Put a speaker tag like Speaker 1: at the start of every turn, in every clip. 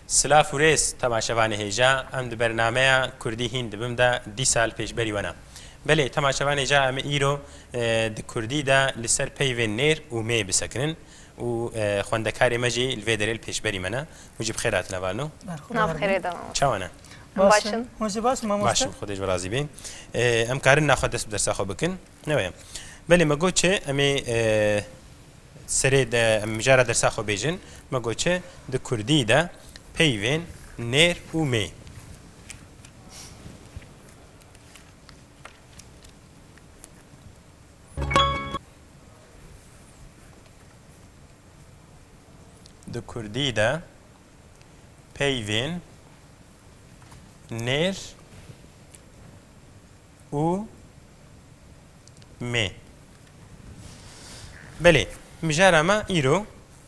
Speaker 1: Silav û rêz temaşevanê hêja em di bernameya Kurdî hîn dibim de dî sal pêşberî wena. Belê temaşevanê ca em îro di Kurdî de li ser peyvên nêr û mê bisekinin. û xwendekarê me jî li vê derê li pêşberî me ne û ji bi xêr hatine var no. Berxwedan Nav xêrê de mamoste. Çawa ne? Em Baş baş in. in. Hûn jî baş in mamoste. Baş in, Xwedê ji we razî bê. Em karin na xwe dest bi dersa xwe bikin? Neweye. Belê me got çi? Em ê serê de em mijara dersa xwe bêjin. Me got çi? Di kurdî de peyvên nêr û mê. Di Kurdî de peyvên nêr û mê. Belê, mijara me îro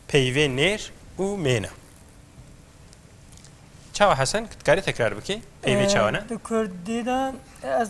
Speaker 1: peyvên nêr û mê ne. Çawa Hesen, tu dikarî tekrar bikî? Peyvê çawa ne? Di Kurdî de ez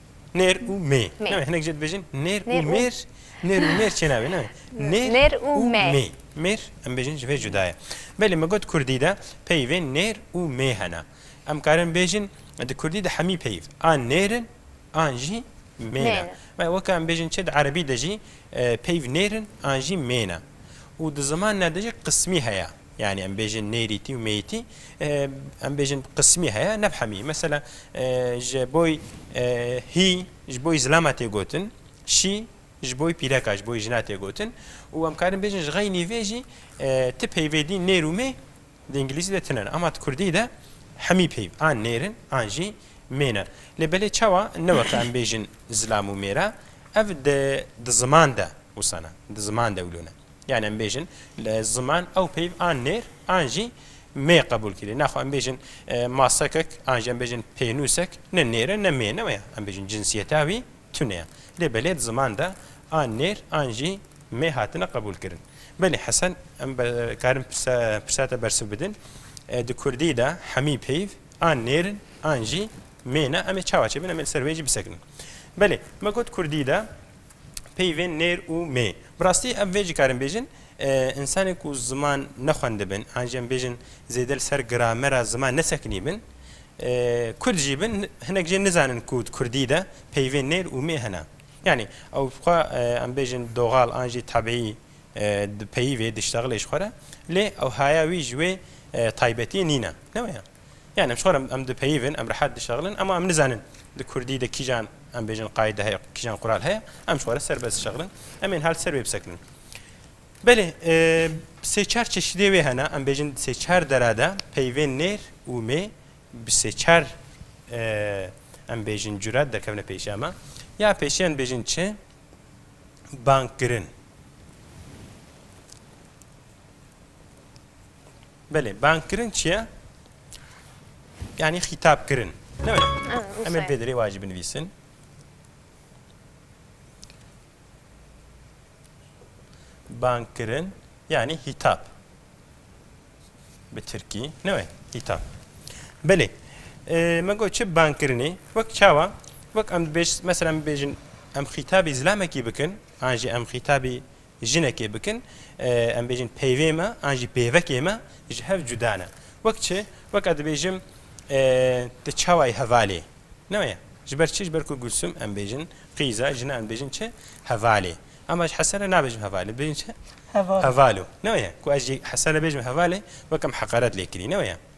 Speaker 1: Nêr û mê. Navê hinek jê dibêjin nêr û mêr. Nêr û mêr çênavê ne. Nêr û mê. Mêr em bêjin ji vê cuda ye. Belê min got kurdî de peyvê nêr û mê hene. Em karin bêjin di kurdî de hemî peyv an nêr in an jî mê ne. Ve weke em bêjin çi di erebî de jî peyv nêr in an jî mê ne. Û di zimanine de jî qismî heye. Yanî em bêjin nêrîtî û mêyîtî em bêjin qismî heye neb hemî. Mesela ji boy hî ji boy zilama tê gotin, şî ji boy pîreka ji boy jina tê gotin û em karin bêjin ji xeynî vê jî ti peyvêdî nêr û mê di îngilîzî de tune ne. Ema di kurdî de hemî peyv an nêrin an jî mêne. Lê belê çawa ne weke em bêjin zilam û mêra ev di ziman de wisa ne, di ziman de wilo ne. Yan em bêjin li ziman ew peyv an nêr an jî mê qebûl kirî. Naxwe em bêjin masekek an jî em bêjin pênûsek ne nêr e ne mê ne wê ye. Em bêjin cinsiyeta wî tune ye. Lê belê di ziman de an nêr an jî mê hatine qebûl kirin. Belê Hesen em karin pirsa te bersiv bidin. Di kurdî de hemî peyv an nêr in an jî mê ne. Em ê çawa çêbin em ê li ser wê jî bisekinin. Belê me got kurdî de peyvên nêr û mê. Bi rastî ev vê cikarin bêjin, însanên ku ziman nexwendibin an jî em bêjin zêde li ser gramera ziman nesekinîbin, kurd jî bin, hinek jê nizanin ku di kurdî de peyvên nêr û mê hene. Yanî ew xwe em bêjin doxal an jî tebîî dipeyivê, diştexilê ji xwe re. Lê ew haya wî ji wê taybetiyê nîne. Ne waya? Yanî em ji xwe re em dipeyivin, em rehet dişexilin ema em nizanin di kurdî de kîjan em bêjin qayîde heye, kîjan qural heye, em ji xwe re serbest dişexilin, em ên hal ser wê bisekinin. Belê sê çar çeşîdê wê hene, em bêjin di sê çar dera de peyvên nêr û mê bi sê çar em bêjin cure derkevine pêşiya me. Ya pêşiyan bêjin çi? Bangkirin. Belê bangkirin çi ye? Yanî xîtabkirin. Em ê vê derê wa jî binivîsin. Bangkirin yanî hîtab. Bi Tirkî ne we hîtab. Belê. Me got çi bangkirinê wek çawa wek em dibêj mesela em bêjin em xîtabî zilamekî bikin an jî em xîtabî Jinekê bikin, em bêjin peyvê me an jî pêvekê me ji hev cuda ne. Wek çi? Weka dibêjim ti çawayî hevalê. Ne waya? Ji ber çi? Ji ber ku Gulsum em bêjin qîza, jinan bêjin çi? Hevalê. Ema ji Hesene nabêjim hevalê, dibêjin çi? Hevalo. Ne waya? Ku ez jî Hesene bêjim hevalê, wek em heqaret lê kirî. Ne waya?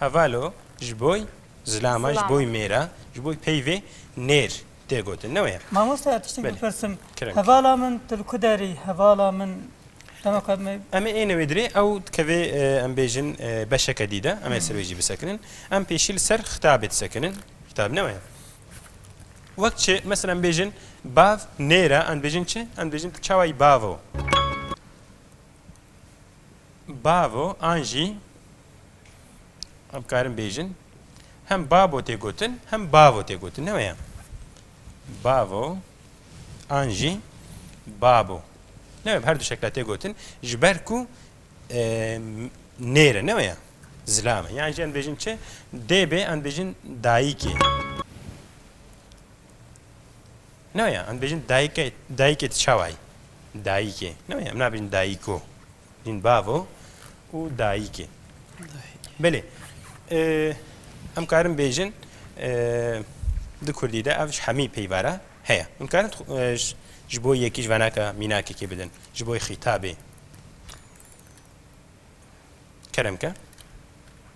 Speaker 1: Hevalo, ji boy zilama, ji boy mêra, ji boy peyvê nêr tê gotin. Ne wê ye? Mamoste ez tiştek bipirsim. Hevala min tu li ku derî? Hevala min dema ku me Em ê êne wê dirê ew dikevê em bêjin beşeke dî de em ê ser wê jî bisekinin. Em pêşî li ser xitabê disekinin. Xitab ne wê ye? Wek çi mesela em bêjin bav nêra em dibêjin çi? Em dibêjin tu çawa yî bavo. bavo an jî em karin bêjin hem babo tê gotin hem bavo tê gotin ne weya bavo an jî babo ne wê her du şekla tê gotin ji ber ku nêre ne weya zilame yan jî em bêjin çi dê bê em bêjin dayîkê Neweye em dibêjin dayike, dayikê tu çawa yî? Dayikê. Neweye em nabêjin dayiko. Dibêjin bavo û dayikê. Belê. Em karin bêjin di Kurdî de ev ji hemî peyvara heye. Em karin ji bo yekî ji venaka mînakekê bidin. Ji bo xîtabê. Kerem ke.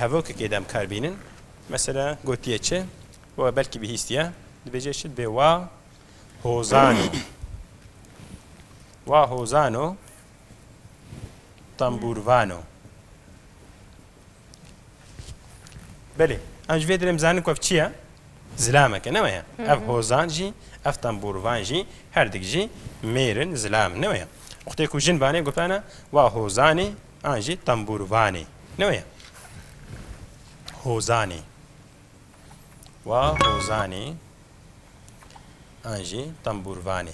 Speaker 1: Hevokekê dem kar bînin. Mesela gotiye çi? We belkî bihîstiye. Dibêje çi? Dibê wa hozan o. Wa hozan o tembûrvan o. Belê. Em ji vê derê em zanin ku ev çi ye? Zilamek e, ne weye? Ev hozan jî, ev tembûrvan jî herdik jî mêr in, zilam in, ne weye? Wextê ku jin vanê gotane wa hozanê, An jî tembûrvanê. Ne wê ye? Hozanê. Wa hozanê. An jî tembûrvanê.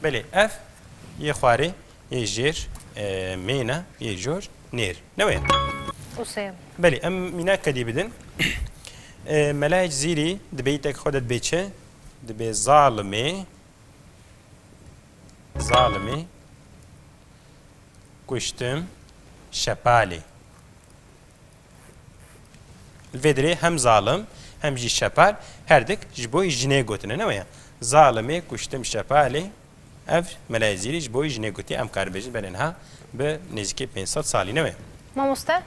Speaker 1: Belê ev yê xwarê yê jêr mêne yê cor nêr. Ne wê ye? Usê. Belê em mînak kedî bidin. Melayek zîrî di beyîtek xwe de dibê çi? Dibê zalimê. Zalimî, kuştim, şepalî. Li vê dirê hem zalim hem jî şepal her dik ji bo jinê gotine ne weye. Zalimî, kuştim, şepalî ev Mela Ezîrî ji bo jinê gotiye em karibêjin benên ha bi nêzîkê pênc sed salî ne weye. Mamoste?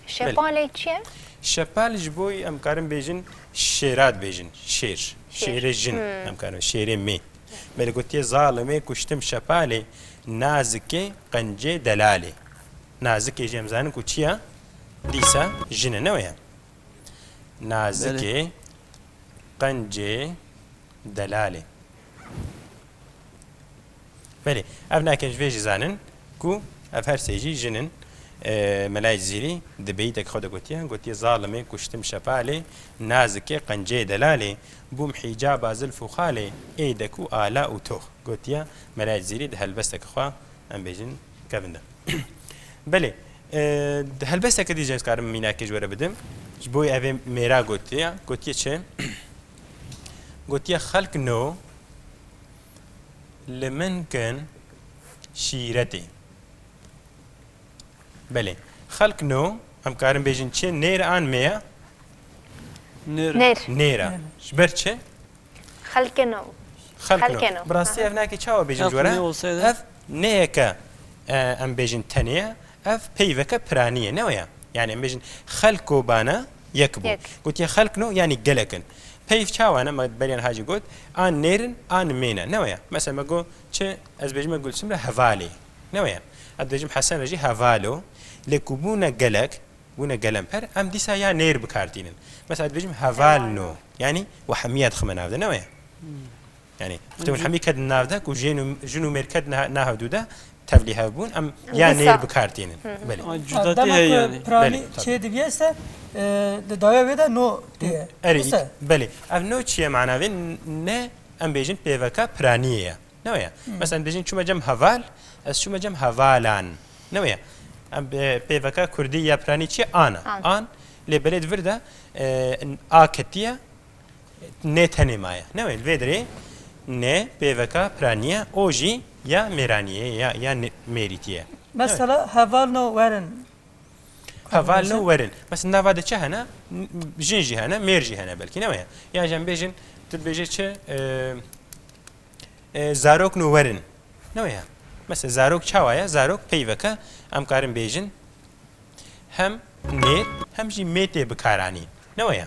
Speaker 1: Şepalê çi ye? Şepal ji bo em karin bêjin şêra dibêjin. Şêr. Şêrê jin em karin şêrê mê. Me li gotiye zalimê kuştim şepalê nazikê qencê delalê. Nazikê jî em zanin ku çi ye? Dîsa jin e ne wê ye? Nazikê qencê delalê. Belê ev nake ji vê jî zanin ku ev her sê jî jin in. Mela Cizîrî di beyîtekî xwe de gotiye, gotiye Zalimê kuştim şepalê, nazikê qenceyê delalê, bûm hîcaba zilf û xalê, ê dek û ala û tox. Gotiye Mela Cizîrî di helbestekî xwe em bêjin kevin de. Belê di helbesteke dî jî ez karim mînakê ji we re bidim. Ji bo evê mêra gotiye, gotiye çi? Gotiye xelk no Li min kin şîretê. Belê. Xelk no, em karin bêjin çi? Nêr an mê ya? Nêr. Nêr. Nêr a. Ji ber çi? Xelkê no. Xelk no. Xelkê no. Bi rastî ev nakê çawa bêjin Ev ji we re? nê olseydi? Ev nêyeke e, em bêjin tenê ye. Ev peyveke piranî ye, ne waya? Yanî em bêjin xelk û bana yek bûn. Gotiye xelk no yanî gelek in. Peyv çawa ne? Me beriyan hacî got an nêr in an mêr ne, ne waya? Mesela me got çi ez bêjim me Gulsum re hevalê, ne waya? Ez dibêjim Hesen re jî hevalo. Lê ku bûne gelek, bûne gelemper em dîsa ya nêr bikar tînin. Mesela ez dibêjim heval no yanî wehmîye dixime nav de, ne waya? Yanî Muhtem Hemî kedin nav de ku jên û jin û mêr kedin nav dû de tevlî hev bûn em ya nêr bi kar tînin. Belê. Cudatî heye yanî. Belê. Çê diviye se di dawê wê de no têye. Erê belê. Ev no çiye mana vê ne em bêjin pêveka piraniyê ye. Ne weye. Mesela em bêjin çûme cem heval ez çûme cem hevalan. Ne weye. Em pêveka kurdî ya piranî çiye ana. An lê belê di vir de a ketiye Nê tenê ma ye. Newê li vê derê nê pêveka piranî ye û jî ya mêranî ye ya ya mêrîtî ye. Mesela heval no werin. Heval no werin. Mesela di nava de çi hene? Jin jî hene, mêr jî hene belkî newê ye. Yan jî em bêjin tu dibêje çi zarok no werin. Newê ye. Mesela zarok çawa ye? Zarok peyveke em karin bêjin hem nêr hem jî mêtê bikaranîn. Newê ye.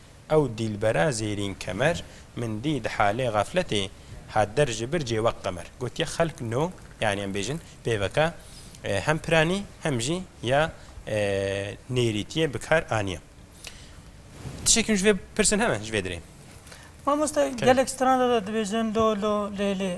Speaker 1: Ew dîlbera zêrîn kemer min dî di halê xefletê hat der ji bir cê wek qemer gotiye xelk no yanî em bêjin pêveke hem piranî hem jî ya nêrîtiyê bi kar aniye. Tişek hûn ji vê pirsin heme ji vê dirê? Mamoste gelek stranda de dibêjin lolo, lêlê.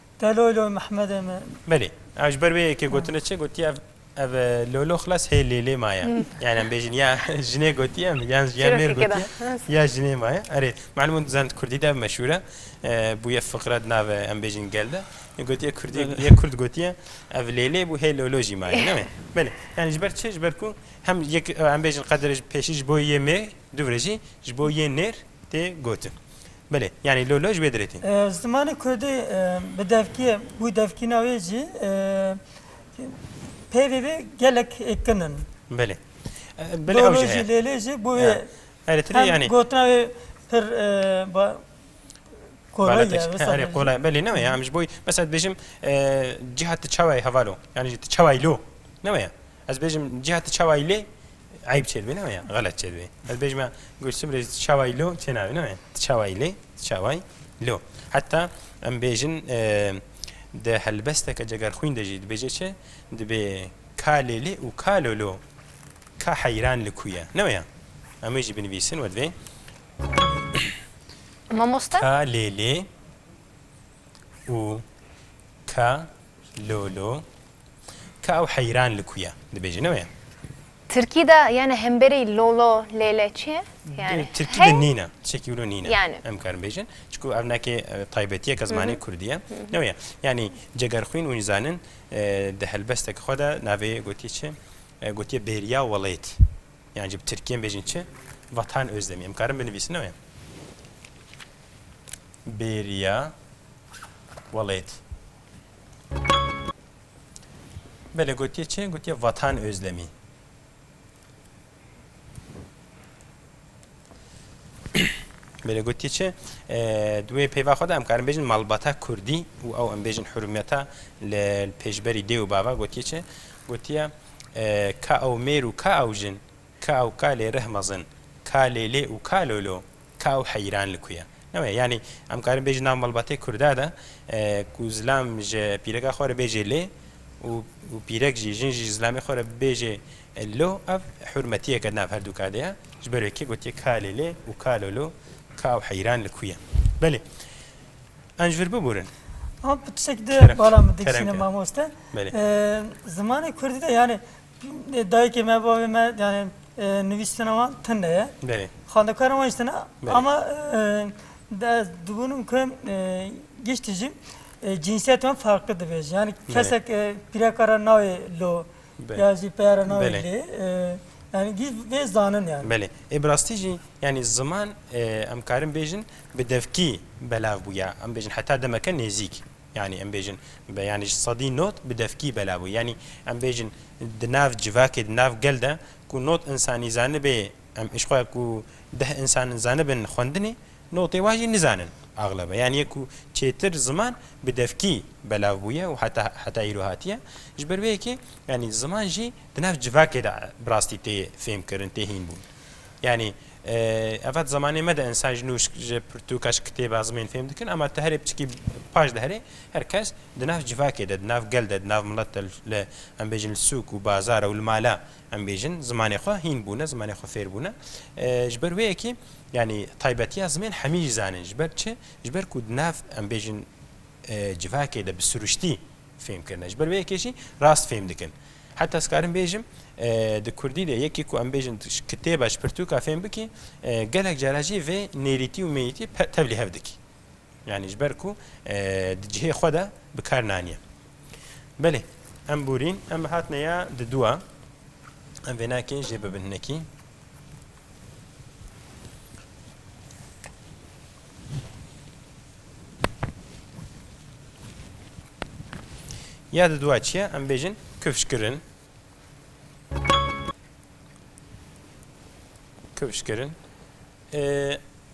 Speaker 1: Te loy loy Mehmedê me. Belê. Ew ji ber wê yekê gotinê çi gotiye ev ev lo lo xilas hê lê lê maye. Yani em bêjin ya jinê gotiye em yan ya Çîrokê mêr ke da. gotiye ya jinê maye. Erê malum in di zanê di kurdî de ev meşhûr e. E, Bûye fiqre di navê em bêjin gel de. E, Gotiye kurdî Belê. yek kurd gotiye ev lê lê bû hê lo lo jî maye ne me. Belê. Yani ji ber çi? Ji ber ku hem yek e, em bêjin qedire ji pêşî ji bo yê mêr, dûvre jî ji bo yê nêr tê gotin. Belê. Yanî lo lo ji wê dirêtîn. Zimanê kurdî bi devkî wî devkîna wê jî peyvê wê gelek kin in. Belê. Belê ew jî heye. Lo lo jî lêlê jî bo wê Eritrî yanî. Hem gotina wê pir kolay ye. Erê kolay ye. Belê ne weye. Em ji bo wî mesela dibêjim cîha tu çawa yî heval o. Yanî tu çawa yî lo. Ne weye. Ez bêjim cihati çawayî lê eyb çêdibê ne ya xelet çêdibê. Ez bêjime Gulsum rê çawayî lo çênavê ne tu çawayî lê tu çawayî lo. Heta em bêjin di helbesteke cegerxwîn de jî dibêje çi dibê ka lê lê û ka lo lo ka heyran li ku ye ne ya em wê jî binivîsin we divê Mamoste? Ka lê lê û ka lo lo Ka ew heyran li ku ye? Dibêjî ne weye? Tirkî de yani hemberî lolo, lêle çi ye? Yani Tirkî de nîne, tişekî wilo nîne. Yani. Em karin bêjin. Çiku ev nekê taybetiyeke zimanê kurdî ye. Ne weye. Yani cegerxwîn û zanin di helbesteke xwe de navê gotiye çi? Gotiye bêriya welêt. Yani ji bi tirkî em bêjin çi? Vatan Özdemî. Em karin binivîsin ne weye. Bêriya welêt. Belê gotiye çi? Gotiye Vatan Özlemî. Belê gotiye çi? Duê peyva xwe de em karin bêjin malbata Kurdî û ew em bêjin hurmiyeta li pêşberî dê û bava gotiye çi? Gotiye ka ew mêr û ka ew jin Ka û kalê rih mezin. Ka lêlê û ka lolo. Ka û heyran li ku ye? Ne weye. Yanî em karin bêjin nav malbatê Kurda de ku zilam ji pîreka xwe re bêjê lê û û pîrek jî, jin jî ji zilamê xwe re bêjê lo, ev hurmetiyeke di nav her du ka de ye. Ji ber wê kê gotiye ka lêlê û ka lolo, ka û heyran li ku ye? Belê. An ji vir biburin. An pirsek di bala min diksîne mamoste. Belê. Zimanê Kurdî de yanî Dayikê me bavê me yani nivîstina wan tinde ye. Belê. Xwendekara wan jî tinde ama ez dibûnim ku giştî jî cînsiyet wan farklı dibêje. Yani kesek pîreka ra nayê lo ya jî peya ra nayê lê. Yani gî vê zanin yani. Belê. Ê bi rastî jî yani ziman em karin bêjin bi devkî belav bûya. Em bêjin heta demeke nêzîk. Yanî em bêjin bi yanî ji sedî not bi devkî belav bû. Yanî em bêjin di nav civakê di nav gel de ku not însanî zanibê em îşxweya ku deh însan zanibin xwendinê notê wan jî nizanin axlebe. Yanî yek ku çêtir ziman bi devkî belav bûye û heta heta îro hatiye. Ji ber vê yekê yanî ziman jî di nav civakê de bi rastî tê fêmkirin tê hînbûn. Yanî. Ev zamanê me de insan ji nû ji pirtûka ji kitêba zimên fêm dikin ama tu herê piçikî paş de herê her kes di nav civakê de di nav gel de di nav milet de li em bêjin li sûk û bazar û li mala em bêjin zimanê xwe hîn bûne zimanê xwe fêr bûne ji ber wê yekî yanî taybetiya zimên hemî jî zanin ji ber çi ji ber ku di nav em bêjin civakê de bi siruştî fêm kirin e. Ji ber vê yekê jî rast fêm dikin. Heta ez karim bêjim di Kurdî de yekî ku em bêjin kitêba ji pirtûka fêm bikî gelek cara jî vê nêrîtî û mêyîtî tevlî hev dikî. Yani ji ber ku di cihê xwe de bi kar naniye. Belê em borîn em hatine ya di dûa em vê nakê jê bibin hinekî. Ya di dua çiye em bêjin kifşkirin. Kifşkirin.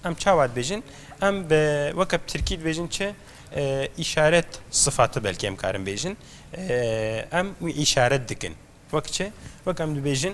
Speaker 1: Em çawa dibêjin? Em bi weke bi tirkî dibêjin çi îşaret sifati belkê em karin bêjin. Em wî îşaret dikin. Wek çi? Wek em dibêjin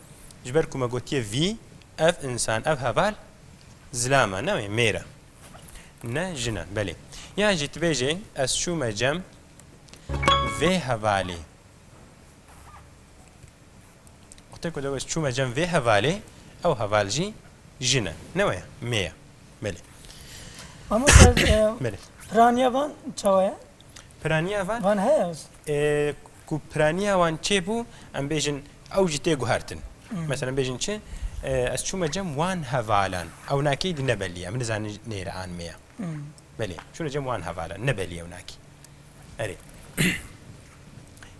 Speaker 1: Ji ber ku me gotiye vî, ev însan, ev heval zilam e, newê mêr e. Ne jin e, belê. Yan jî tu bêjê ez çûme cem vê hevalê. Wextê ku tu ez çûme cem vê hevalê, ew heval jî jin e, newê ye, mê ye. Belê. Mamoste, Belê. piraniya van çawa ye? Piraniya van? Van heye? Ku piraniya wan çê bû, em bêjin ew jî tê guhertin. Mesela bêjin çi? Ez çûme cem wan hevalan. Ewnakî di nebelî ye. Min dizane nêr an me ye. Belê. Çûne cem wan hevalan. Nebelî ewnakî. Erê.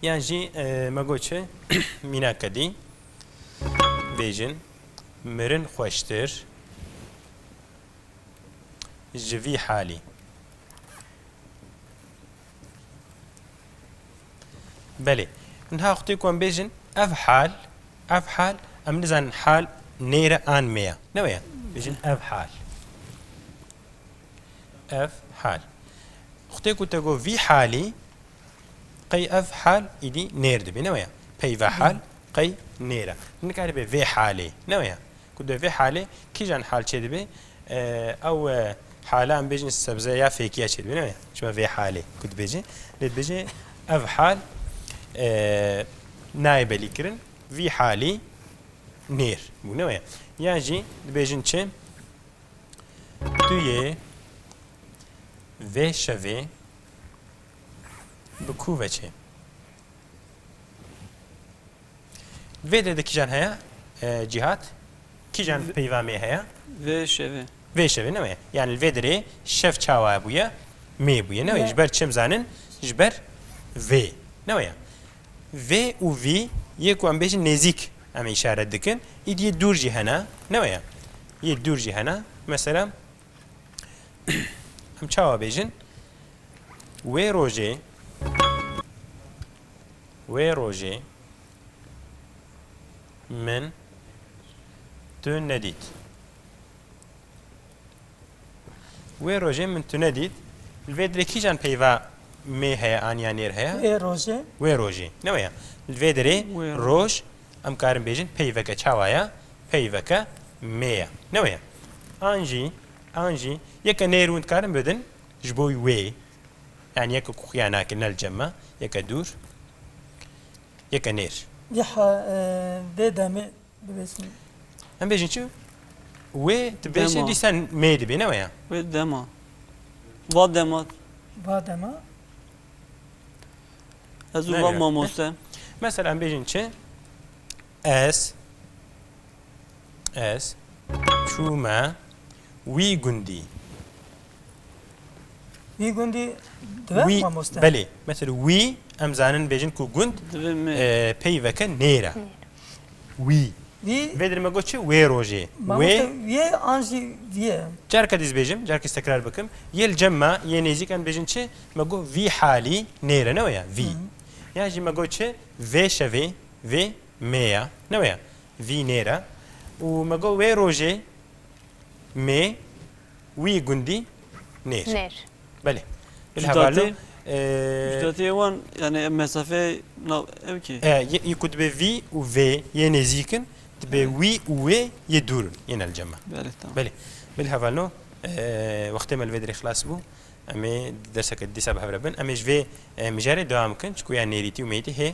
Speaker 1: Yan jî me got çi? Mîna kedî. Bêjin. Mirin xweştir. Ji vî halî. Belê. Niha xwitê ku em bêjin ev hal, ev hal, em nizanin hal nêre an me ya. Ne weye. Bêjin ev hal. Ev hal. Xwitê ku te got vî halî qey ev hal îdî nêr dibê. Ne weye. Peyva hal qey nêre. Nikaribe vê halê. Ne weye. Ku de vê halê kîjan hal çê dibê? Ew hale em bêjin sebze ya fêkiya çê dibîne ne? Çima vê halê ku dibêjin lê dibêjin ev hal nayê belîkirin vî halî nêr bûne weye. Yan jî dibêjin çi? Tu yê vê şevê bi kû veçê? Vê dê de kîjan heye Cîhat? Kîjan peyvamê heye? Vê şevê. Vê şevê ne wê. Yani li vê derê şev çawa bûye? Mê bûye ne wê. Ji ber çi em zanin? Ji ber vê. Ne wê. Vê û vî yê ku em bêjin nêzîk em îşaret dikin. Îdî yê dûr jî hene. Ne wê. Yê dûr jî hene. Mesela em çawa bêjin? Wê rojê Wê rojê min tu nedît. Wê rojê min tu nedît. Li vê derê kîjan peyva mê heye aniya nêr heye? Wê rojê. Wê rojê. Ne weye. Li vê derê roj em karin bêjin peyveke çawa ye? Peyveke mê ye. Ne weye. An jî, an jî yeke nêr hûn dikarin bidin ji bo wê. Yani yeke ku xuya nake ne li cem e, yeke dûr, yeke nêr. Yê ha vê demê bibêjin. Em bêjin çi? Wê tu bêjin Dema. dîsa mê dibê ne weya. Wê dema. Va dema. Va dema. Ez û Ne va ya. mamoste. Mesela em bêjin çi? Ez Ez çûme wî gundî. Wî gundî dibe wî mamoste. Belê. Metel wî em zanin bêjin ku gund pey veke nêra. Wî. Wî. Vê dir me got çi wê rojê. Wê. Wê an jî vîye. Carka dîz bêjim, carka dîz tekrar bikim. Yê li cem me, yê nêzîk em bêjin çi? Me got vî halî nêre ne waya vî. Ya jî me got çi vê şevê, vê Mê ya, ne wê ya. Vî nêr e. Û me got wê rojê mê wî gundî nêr. Nêr. Belê. Bil hevallo. Cudatiye wan yanî mesafeyê nav ew kî? E, yê ku dibê vî û vê yê nêzîk in, dibê wî û wê yê dûr in, yên elcame. Belê, tamam. Belê. Bil hevallo, wextê me li vê derê xilas bû. Em ê di derseke dîsa bi hev re bin. Em ê ji vê mijarê dewam bikin, çku ya nêrîtî û mêyîtî hê